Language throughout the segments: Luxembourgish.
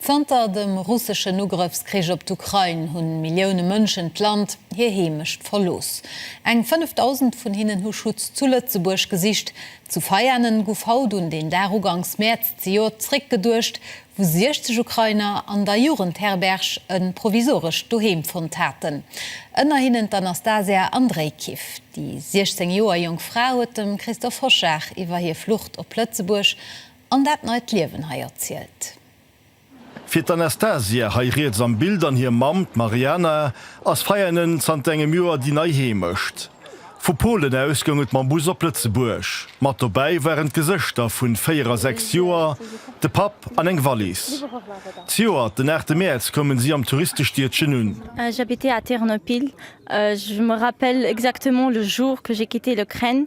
Zanter dem russeschen Ugrëffskrich op d'Ukrain hu Millioune Mënschen d'Land, hir Heemecht verlooss. Eng 5.000 vun hinnen hu Schutz zu Lëtzebuerg gesicht. Zu Veianen gouf haut un deen Dag uganks Mäerz zejoert zeréckgeduecht, wou 60 Ukrainer an der Jugendherberg e provisorescht Doheem fonnt haten. Ënner hinnen d'Anastasia Andrejkiw. Déi 16 Joer jonk Fra huet dem Christoph Hoschag iwwer hir Flucht op Lëtzebuerg An dat neit Liewen hei erzielt. Fir d'Anastasia, hei riets am Bild, an hir Mamm, d'Mariana, ass Veianen zanter engem Joer déi nei Heemecht. Vu Polen aus goung et mam Bus op Lëtzebuerg. Mat dobäi waren d'Gesëschter vu véier a sechs Joer, de Papp an eng Wallis. Zejoert den 8 Mäerz koumen si am Touristestiedchen un. J'habitais à Ternopil, je me rappelle exactement le jour que j'ai quitté l'Ukraine.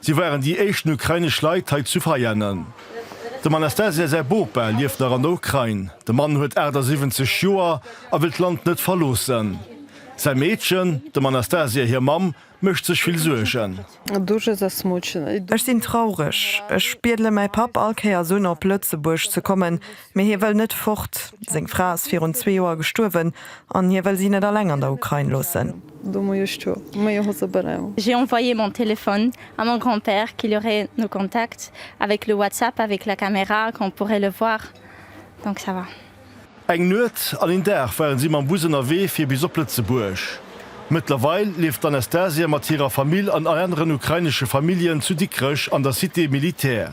Si waren déi éischten ukrainesch Leit hei zu Veianen. Dem Anastasia säi Bopa lieft nach an der Ukrain. De Mann huet 78 Joer a wëll d'Land net verloossen. Säi Meedchen, dem Anastasia hir Mamm, mécht sech vill Suergen. Ech sinn traureg. Ech biedele mäi Papp all Kéiers un, op Lëtzebuerg ze kommen, Mee hie wëll net fort. Seng Fra ass virun zwee Joer gestuerwen an hie wëll si net alleng an der Ukrain loossen. J'ai envoyé mon téléphone à mon grand-père qu'il aurait nos contacts avec le WhatsApp avec la caméra qu'on pourrait le voir donc ça va. Eng Nuet an een Dag ware si mam Bus ënnerwee fir bis op Lëtzebuerg. Mëttlerweil lieft d'Anastasia mat hirer Famill an aneren ukrainesche Familljen zu Dikrech an der Cité militaire.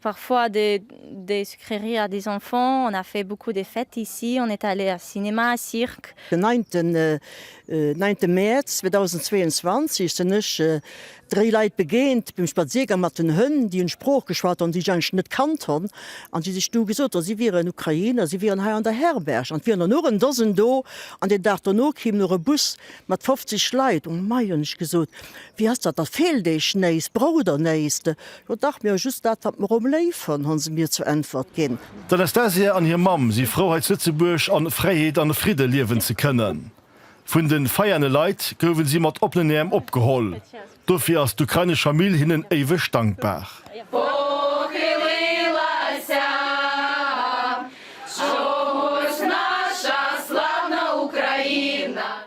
Parfois des sucreries à des enfants, on a fait beaucoup des fêtes ici, on est allé à cinéma, cirque. Den neinte neinte Mäerz 2022 sen ech dréi Leit begéint beim Spaziergang mat den Hënn, déi en Sprooch geschwat han, déi ech eigentlech net kannt han, an déi sech du gesot han, si wieren Ukrainer, si wieren hei an der Herberg, an et wier der nur en Dosen do, an den Dag dono kim nur e Bus mat 50 Leit. O mei, hun ech gesot, wéi ass dat, da feelt eech néiss, braucht der néiss? O dach, mir hu just dat, wat mer om léif hunn, hu se mir zur Äntwert ginn. D'Anastasia an hir Mamm si frou, hei zu Lëtzebuerg an Fräiheet an Fridde liewen ze kënnen. Vun de Veiane Leit gouwen si mat oppenen Äerm opgeholl. Dofir ass d'ukrainesch Famill hinnen éiweg dankbar.